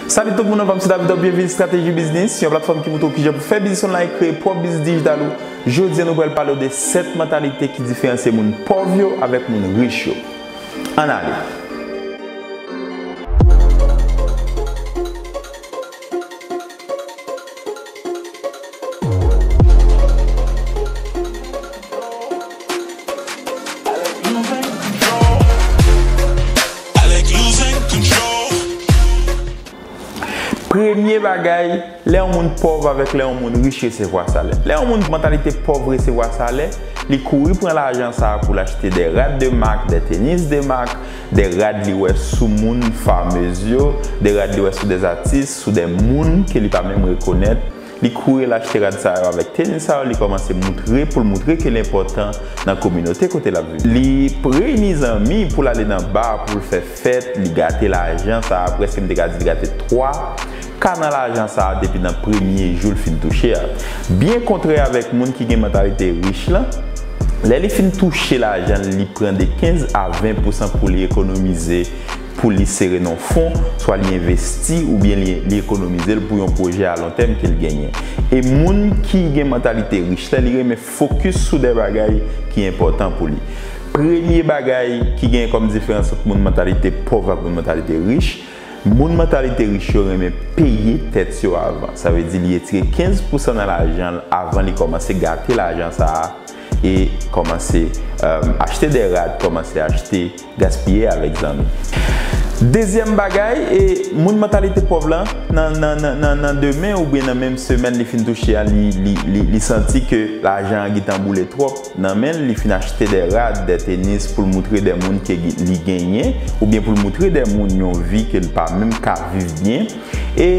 Salut tout moun anvanm se David Top byenvini strateji biznis yon platfòm ki moutre w kijan pou fè biznis online kreye pwòp biznis dijital ou jodi an nou pral pale w de 7 mantalite ki diferansye moun pòv yo avèk moun rich yo ann ale. Premye bagay, lè yon moun pòv avèk lè yon moun rich resevwa salè. Lè yon moun mantalite pòv resevwa salè, li kouri pran lajan sa a pou l achte de rad de mak, de tenis de mak, de rad li wè sou moun fameuse yo, de rad li wè sou des atis, sou des moun ke li pa menm rekonèt, li kouri al achte rad sa yo avèk teni sa yo li kòmanse moutre poul moutre ke l enpòtan nan kominote kote lap viv. Li reyini zanmi poul ale nan bar poul fè fèt, li gate lajan sa a, prèske m te ka di li gate 3 ka nan lajan sa a depi nan premye jou l fin touche a. Byen kontrè avèk moun ki gen mantalite rich lan, lè li fin touche lajan l li pran de 15 a 20 pousan pou li ekonomize pou li sere nan yon fon, swa li envesti oubyen li li ekonomize l pou yon pwojè alontèm ke l genyen. E moun ki gen mantalite rich la li renmen fokis sou de bagay ki enpòtan pou li. Premye bagay ki genyen kòm diferans ant moun mantalite pòv ak moun mantalite rich, Moun mantalite rich yo renmen peye tèt yo avan. Sa vle di li etire 15 pousan nan lajan l avan li kòmanse gate lajan sa a e kòmanse achte dè rad, kòmanse achte, gaspiye avèk zanmi. Dezyèm bagay, moun mantalite pòv la, nan demen oubyen nan menm semèn li fin touche a li santi ke lajan an gentan boule twòp. Nan menl li fin achte dè rad, dè tenis poul moutre dè moun ke li genyen oubyen poul moutre dè moun yon vi kel pa menm ka viv byen e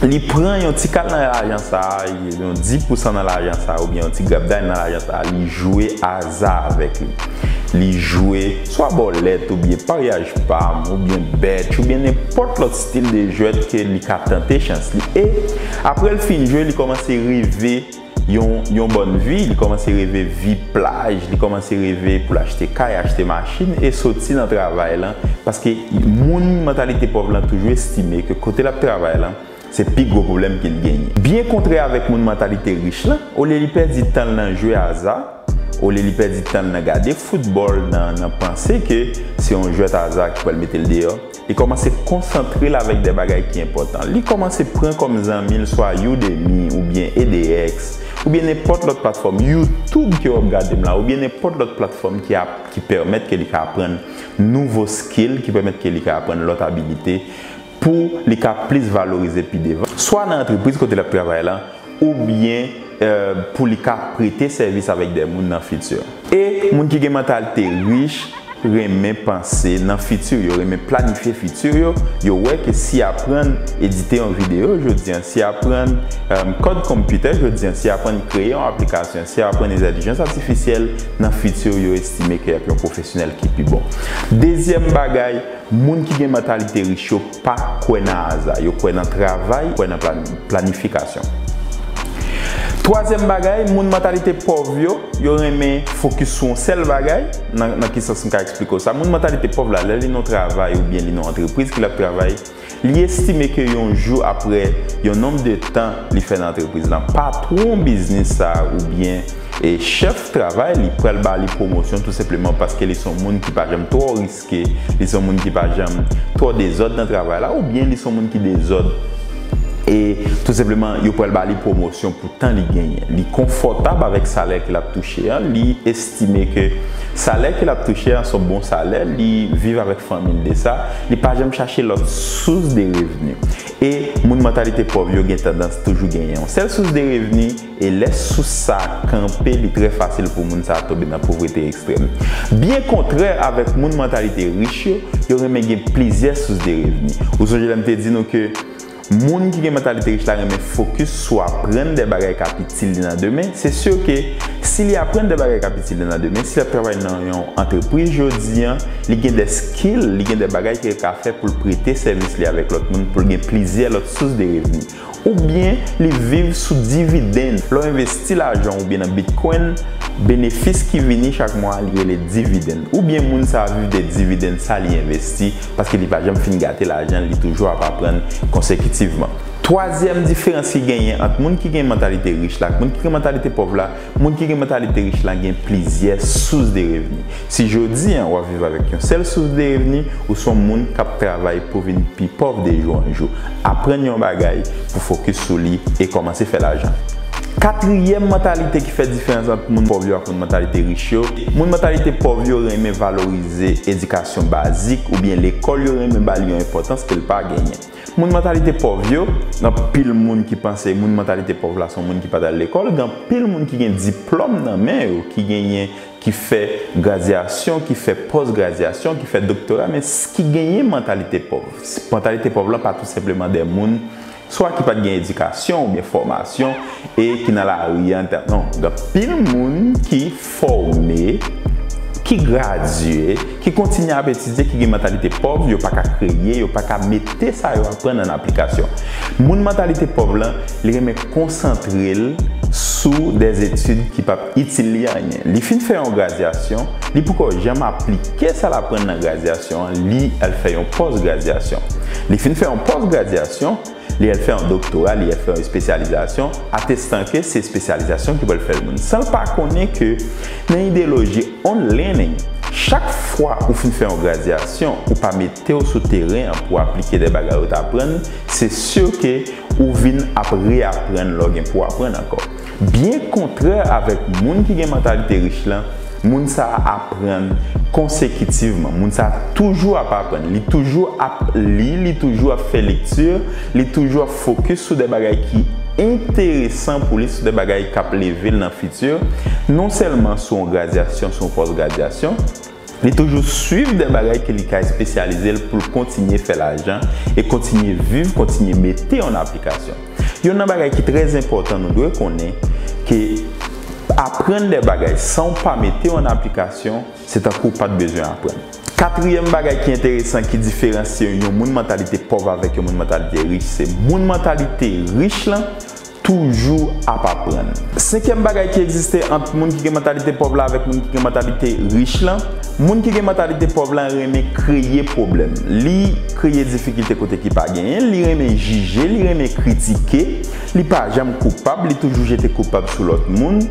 li pran yon ti kal nan lajan sa, yon di pousan nan lajan sa oubyen yon ti grapday nan lajan sa li jwe aza avèk li. Li jwe swa bòlèt oubyen paryaj pam oubyen bètch oubyen nenpòt lòt stil de jwèt ke li ka tante chans li e aprèl fin jwe li kòmanse reve. yon bòn vi, li kòmanse reve vi plaj, li kòmanse reve pou l achte kay, achte machin e soti nan travay lan paske moun mantalite pòv lan toujou estime ke kote l ap travay lan se pi gwo pwoblèm ke l genyen. Byen kontrè avèk moun mantalite rich lan, olye li pèdi tan l nan jwe aza, olye li pèdi tan l nan gade foutbòl, nan panse ke se yon jwèt aza ki pral mete l deyò, Li kòmanse konsantre l avèk de bagay ki enpòtan. Li kòmanse pran kòm zanmi l swa Udemy oubyen edx, oubyen nenpòt lòt platfòm, YouTube ke w ap gade m la, oubyen nenpòt lòt platfòm ki ap, ki pèmèt ke li ka aprann nouvo skill, ki pèmèt ke li ka aprann lòt abilite pou li ka plis valorize pi devan, swa nan antrepriz kote l ap travay lan, oubyen pou li ka prete sèvis avèk dè moun nan fiti. E, moun ki gen mantalite rich renmen panse nan fiti, yo renmen planifye fiti yo, yo wè ke si y aprann edite yon videyo jodi an, si y aprann kòd konpitè jodi an, si y aprann kreye yon aplikasyon, si y aprann entèlijans atifisyèl, nan fiti yo estime ke y ap yon pwofesyonèl ki pi bon. Dezyèm bagay, moun ki gen mantalite rich yo. Pa kwè nan aza. Yo kwè nan travay, kwè nan planifikasyon. Twazyèm bagay, moun mantalite pòv yo, yo renmen fokis sou yon sèl bagay. Nan ki sans m ka eksplike w sa? Moun mantalite pòv la, lè li nan yon travay oubyen li nan yon antrepriz ke l ap travay, li estime ke yon jou apre yon nonb de tan li fè nan antrepriz lan, patwon biznis sa a oubyen chèf travay li pral ba li pwomosyon tou senpleman paske li se yon moun ki pa janm twò. Èske li se yon moun ki pa janm twò dezòd nan travay la oubyen li se yon moun ki dezòd e tou senpleman yo pral ba li pwomosyon pou tan li genyen? Li konfòtab avèk salè ke l ap touche an? Li estime ke salè ke l ap touche an se yon bon salè? Li viv avèk fanmi l de sa? Li pa janm chache lòt sous de revni? E moun mantalite pòv yo gen tandans toujou genyen yon sèl sous de revni? E lè sous sa a kanpe, li trè fasil pou moun sa a tonbe nan povrete ekstrèm. Byen kontrè avèk moun mantalite rich yo, yo renmen gen plizyè sous de revni. Ou sonje lè m te di nou ke moun ki gen mantalite rich la renmen fokis sou aprann de bagay k ap itil li nan demen? Se sur ke si li aprann de bagay k ap itil li nan demen, si l ap travay nan yon antrepriz jodi an, li gen de skill, li gen de bagay ke l ka fè pou l prete sèvis li avèk lòt moun, pou l gen plizyè lòt sous de revni. Oubyen li viv sou dividenn. Lè w envesti lajan w oubyen nan Bitcoin, benefis ki vini chak mwa a li rele dividenn. Oubyen moun sa a viv de dividenn sa li envesti paske li pa janm fin gate lajan l, li toujou ap aprann konsekitivman. Twazyèm diferans ki genyen ant moun ki gen mantalite rich la ak moun ki gen mantalite pòv la, Moun ki gen mantalite rich la gen plizyè sous de revni. Si jodi an w ap viv avèk yon sèl sous de revni, ou s on moun k ap travay pou vin pi pòv de jou an jou. Aprann yon bagay pou fokis sou li e kòmanse fè lajan. Katriyèm mantalite ki fè diferans ant moun pòv yo ak moun mantalite rich yo, moun mantalite pòv yo renmen valorize edikasyon bazik oubyen lekòl yo renmen ba li yon enpòtans ke l pa genyen. Moun mantalite pòv yo, gen anpil moun ki panse moun mantalite pòv la se yon moun ki pa t al lekòl, gen anpil moun ki gen diplòm nan men yo, ki genyen, ki fè gradyasyon, ki fè pòs gradyasyon, ki fè doktora men ki genyen mantalite pòv. Mantalite pòv lan pa tou senpleman de moun swa ki pa t gen edikasyon oubyen fòmasyon e ki nan lari an, non, gen anpil moun ki. fòme, ki gradye, ki kontinye ap etidye, ki gen mantalite pòv, yo pa ka kreye, yo pa ka mete sa yo aprann an aplikasyon. Moun mantalite pòv lan, li renmen konsantre l sou dè etid ki p ap itil li anyen. Li fin fè yon gradyasyon, li poko janm aplike sa l aprann nan gradyasyon an, li al fè yon pòs-gradyasyon. Li fin fè yon pòs-gradyasyon, Li al fè yon doktora, li al fè yon espesyalizasyon, atestan ke se espesyalizasyon ki pral fèl moun. San l pa konnen ke nan ideyoloji unlearning, chak fwa ou fin fè yon gradyasyon, ou pa mete w sou teren an pou w aplike de bagay ou t aprann, se sur ke ou vin ap reaprann lè w gen pou w aprann ankò. Byen kontrè avèk moun ki gen mantalite rich lan, moun sa a aprann konsekitivman. Moun sa a toujou ap aprann. Li toujou ap li, li toujou ap fè lekti, li toujou ap fokis sou de bagay ki enteresan pou li, sou de bagay k ap leve l nan fiti, non sèlman sou yon gradyasyon, sou yon pòs gradyasyon, Li toujou swiv de bagay ke li ka espesyalize l pou l kontinye fè lajan e kontinye viv, kontinye mete an aplikasyon. Yonn nan bagay ki trè enpòtan nou dwe konnen ke aprann de bagay san w pa mete an aplikasyon se tankou w pa t bezwen aprann. Katriyèm bagay ki enteresan ki diferansye yon moun mantalite pòv avèk yon moun mantalite rich se moun mantalite rich lan Toujou ap aprann. Senkyèm bagay ki egziste ant moun ki gen mantalite pòv la avèk moun ki gen mantalite rich la, moun ki gen mantalite pòv la renmen kreye pwoblèm, li kreye difikilte kote ki pa genyen, li renmen jije, li renmen kritike, li pa janm koupab, li toujou jete koupab sou lòt moun,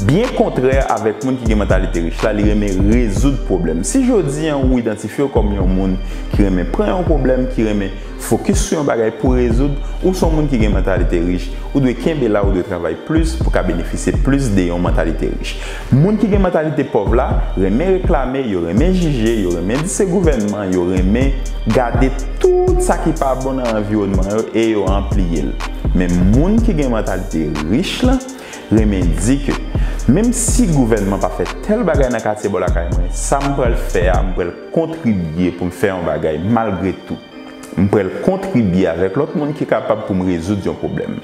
byen kontrè avèk moun ki gen mantalite rich la, li renmen rezoud pwoblèm. Si jodi an ou idantifye w kòm yon moun ki renmen pran yon pwoblèm, ki renmen. Fokis sou yon bagay pou rezoud, ou son moun ki gen mantalite rich, ou dwe kenbe la ou dwe travay plis pou ka benefisye plis de yon mantalite rich. Moun ki gen mantalite pòv la, renmen reklame, yo renmen jije, yo renmen di se gouvènman, yo renmen gade tout sa ki pa bon nan anviwònman yo e yo anpliye l. Men moun ki gen mantalite rich la, renmen di ke, menm si gouvènman pa fè tèl bagay nan katye bò lakay mwen, sa m pral fè a, m pral. kontribye pou m fè yon bagay malgre tou. M pral kontribye avèk lòt moun ki kapab pou m rezoud yon pwoblèm.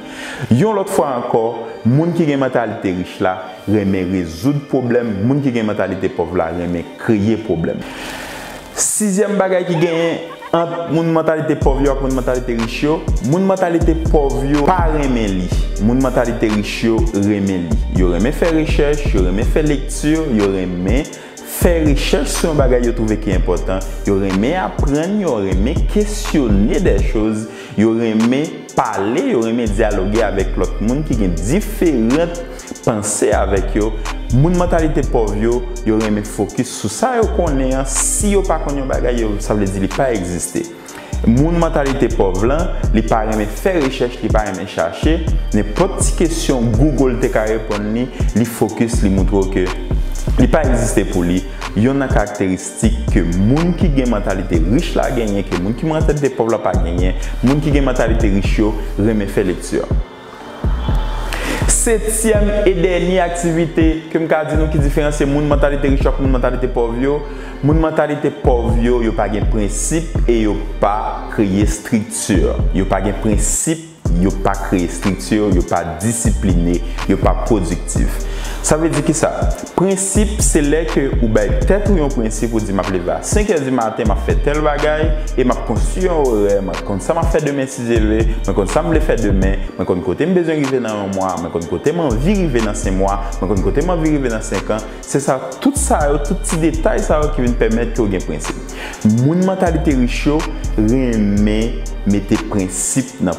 Yon lòt fwa ankò, moun ki gen mantalite rich la renmen rezoud pwoblèm, moun ki gen mantalite pòv la renmen kreye pwoblèm. Sizyèm bagay ki genyen ant moun mantalite pòv yo ak moun mantalite rich yo, moun mantalite pòv yo pa renmen li, moun mantalite rich yo renmen li. Yo renmen fè rechèch, yo renmen fè lekti, yo renmen. Fè rechèch sou yon bagay yo twouve ki enpòtan, yo renmen aprann, yo renmen kesyone dè choz, yo renmen pale, yo renmen dyaloge avèk lòt moun ki gen diferant panse avèk yo, moun mantalite pòv yo, yo renmen fokis sou sa yo konnen an, si yo pa konn yon bagay yo sa vle di li pa egziste. Moun mantalite pòv lan, li pa renmen fè rechèch, li pa renmen chache, nenpòt ti kesyon Google te ka reponn li, li fokis, li moutre w ke li pa egziste pou li, yon nan karakteristik ke moun ki gen mantalite rich la genyen ke moun ki mantalite pòv la pa genyen, moun ki gen mantalite rich yo renmen fè lekti. Setyèm e dènye aktivite ke m ka di nou ki diferansye moun mantalite rich yo ak moun mantalite pòv yo, moun mantalite pòv yo, yo pa gen prensip e yo pa kreye estrikti. Yo pa gen prensip, yo pa kreye estrikti, yo pa disipline, yo pa pwodiktif. Sa vle di kisa? Prensip se lè ke ou bay tèt ou yon prensip ou di map leve a 5 è di maten map fè tèl bagay e map konstwi yon orè mwen konn sa map fè demen si Dye vle mwen konn sam vle fè demen mwen konn kotem bezwen rive nan yon mwa mwen konn kotem anvi rive nan se mwa mwen konn kotem anvi rive nan senkan se sa tout sa yo tout ti detay sa yo ki vin pèmèt ke ou gen prensip moun mantalite rich yo renmen mete prensip nan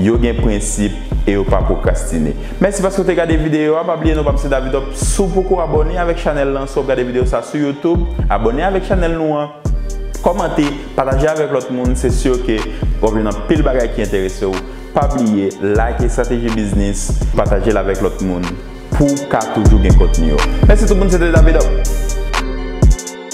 Yo gen prensip e yo pa pwokrastine. Mèsi paske w te gade videyo a, pa bliye non pam se Davidoff, si w poko abòne avèk chanèl lan, si wap gade videyo sa sou youtube, abòne avèk chanèl nou an, kòmante, pataje avèk lòt moun, se sur ke wap jwenn anpil bagay ki enterese w, pa bliye like Estrateji Biznis, pataje l avèk lòt moun pou w ka toujou gen kontni yo. Mèsi tout moun se te Davidoff.